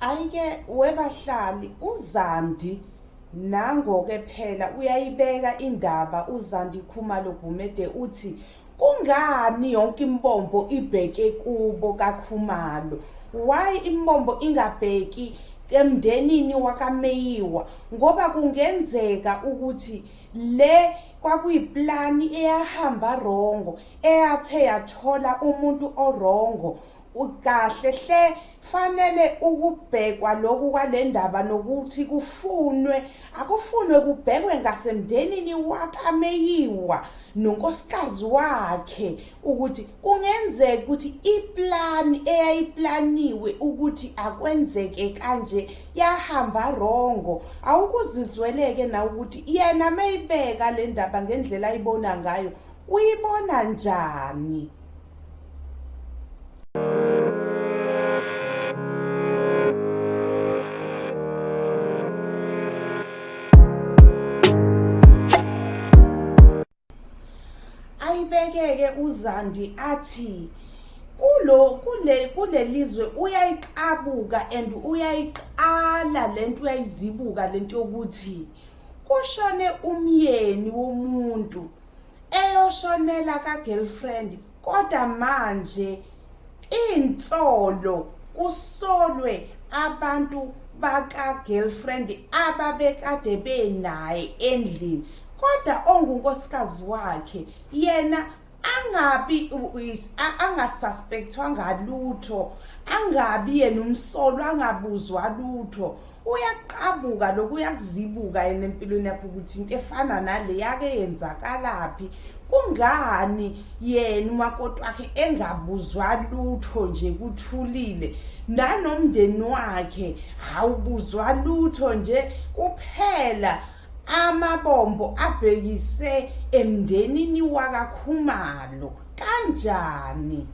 ayike webahlali uzandi nangoke phela uyayibeka indaba uzandi khumalo gumede uthi kungani yonke imbombo ibheke kubo kakhumalo why imbombo ingabheki emndenini wakameyiwa ngoba kungenzeka ukuthi le kwakuyiplani eyahamba rongo eyathe yathola umuntu orongo Ukahle hle fanele ukubhekwa lokhu kwalendaba nokuthi kufunwe akufunwe kubhekwe ngasemndenini wakameyiwa nonkosikazi wakhe ukuthi kungenzeka ukuthi iplan eyayiplaniwe ukuthi akwenzeke kanje yahamba rongo awukuzizweleke na ukuthi yena meyibeka le ndaba ngendlela ayibona ngayo uyibona njani ayibekeke uzandi athi kulo kule kulelizwe uyayiqabuka and uyayiqala lento uyayizibuka lento yokuthi kushone umyeni womuntu eyoshonela ka girlfriend kodwa manje insolo kusolwe abantu baka girlfriend ababekade benaye endlini kodwa ongunkosikazi wakhe yena angabi angasuspectwa ngalutho angabi yena umsolo angabuzwa lutho uyaqabuka lokhu uyakuzibuka yena empilweni yakho ukuthi into efana nale yake yenzakalaphi kungani yena umakoti wakhe engabuzwa lutho nje kuthulile nanomndeni wakhe awubuzwa lutho nje kuphela amabombo abhekise emndenini wakakhumalo kanjani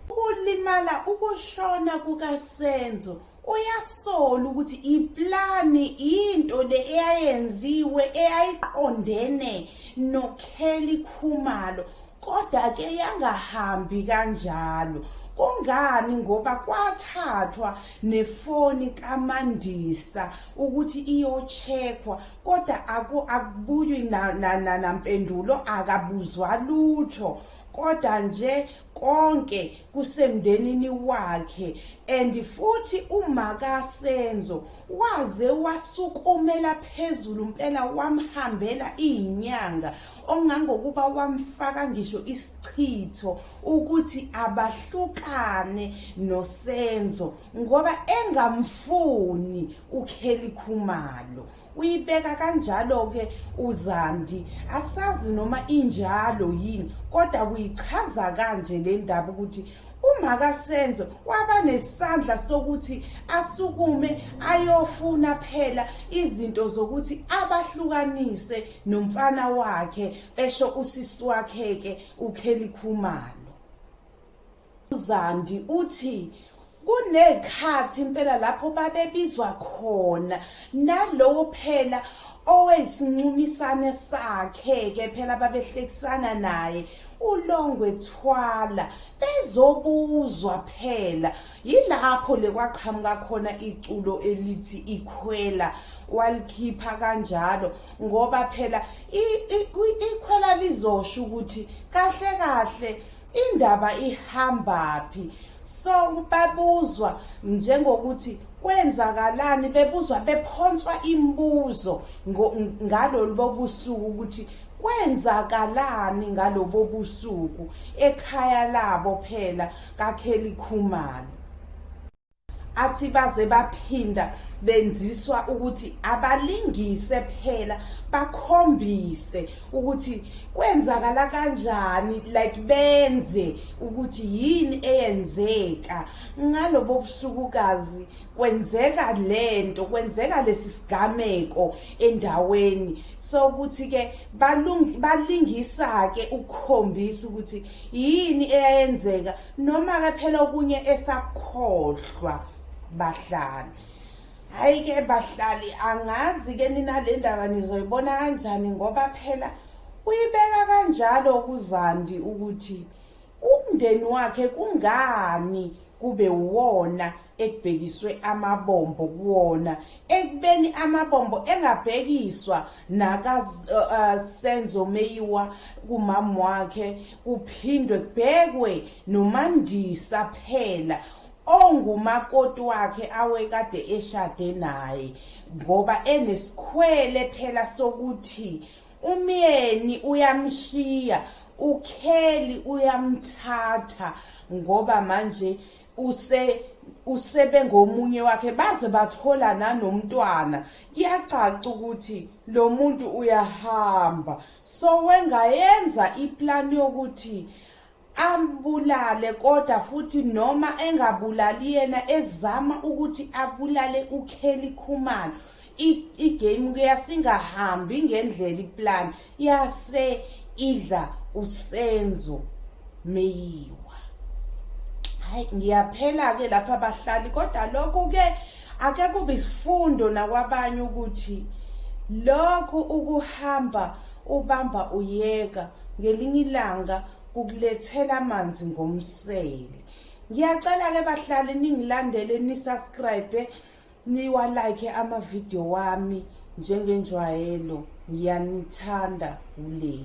ukulimala ukushona kukasenzo uyasola ukuthi iplani into le eyayenziwe eyayiqondene noKelly Khumalo kodwa ke yangahambi kanjalo kungani ngoba kwathathwa nefoni kaMandisa ukuthi iyocheckwa kodwa akubuywi nampendulo akabuzwa lutho kodwa nje konke kusemndenini wakhe and futhi umaka Senzo waze wasukumela phezulu impela wamhambela izinyanga ongangokuba wamfaka ngisho isichitho ukuthi abahlukane noSenzo ngoba engamfuni uKelly Khumalo uyibeka kanjalo-ke uzandi asazi noma injalo yini kodwa kuyichaza kanje le ndaba ukuthi umakasenzo waba nesandla sokuthi asukume ayofuna phela izinto zokuthi abahlukanise nomfana wakhe esho usisi wakhe-ke ukhelikhumalo UZandi uthi kunezikhathi impela lapho babebizwa khona nalowo phela owesincumisane sakhe ke phela babehlekisana naye ulongwe thwala bezobuzwa phela yilapho lekwaqhamuka khona iculo elithi ikhwela walikhipha kanjalo ngoba phela ikhwela lizosho ukuthi kahle kahle Indaba ihambaphi? So babuzwa njengokuthi kwenzakalani bebuzwa bephonswa imibuzo ngalolu bobusuku ukuthi kwenzakalani ngalobo busuku ekhaya labo phela kaKelly Khumalo athi baze baphinda benziswa ukuthi abalingise phela bakhombise ukuthi kwenzakala kanjani like benze ukuthi yini eyenzeka ngalobo busukukazi kwenzeka lento kwenzeka lesi sigameko endaweni so ukuthi ke balingisa ke ukukhombisa ukuthi yini eyenzeka noma ke phela okunye esakhohlwa bahlali hayi ke bahlali angazi ke nina le ndaba nizoyibona kanjani ngoba phela uyibeka kanjalo kuzandi ukuthi umndeni wakhe kungani kube wona ekubhekiswe amabombo kuwona ekubeni amabombo engabhekiswa naka uh, uh, Senzo Meyiwa kumama wakhe kuphindwe kubhekwe noMandisa phela ongumakoti wakhe awekade eshade naye ngoba enesikhwele phela sokuthi umyeni uyamshiya ukheli uyamthatha ngoba manje use usebengomunye wakhe baze bathola nanomntwana kuyacaca ukuthi lo muntu uyahamba so wengayenza iplan yokuthi ambulale kodwa futhi noma engabulali yena ezama ukuthi abulale uKelly Khumalo igame kuyasingahambi ngendlela iplan yase idla usenzo meyiwa hayi ngiyaphela ke lapha abahlali kodwa lokho ke ake kube isifundo nakwabanye ukuthi lokho ukuhamba ubamba uyeka ngelinye ilanga kukulethela amanzi ngomsele ngiyacela ke bahlali ningilandele ni subscribe eh? Niwa like ama video wami njengenjwayelo ngiyanithanda ule.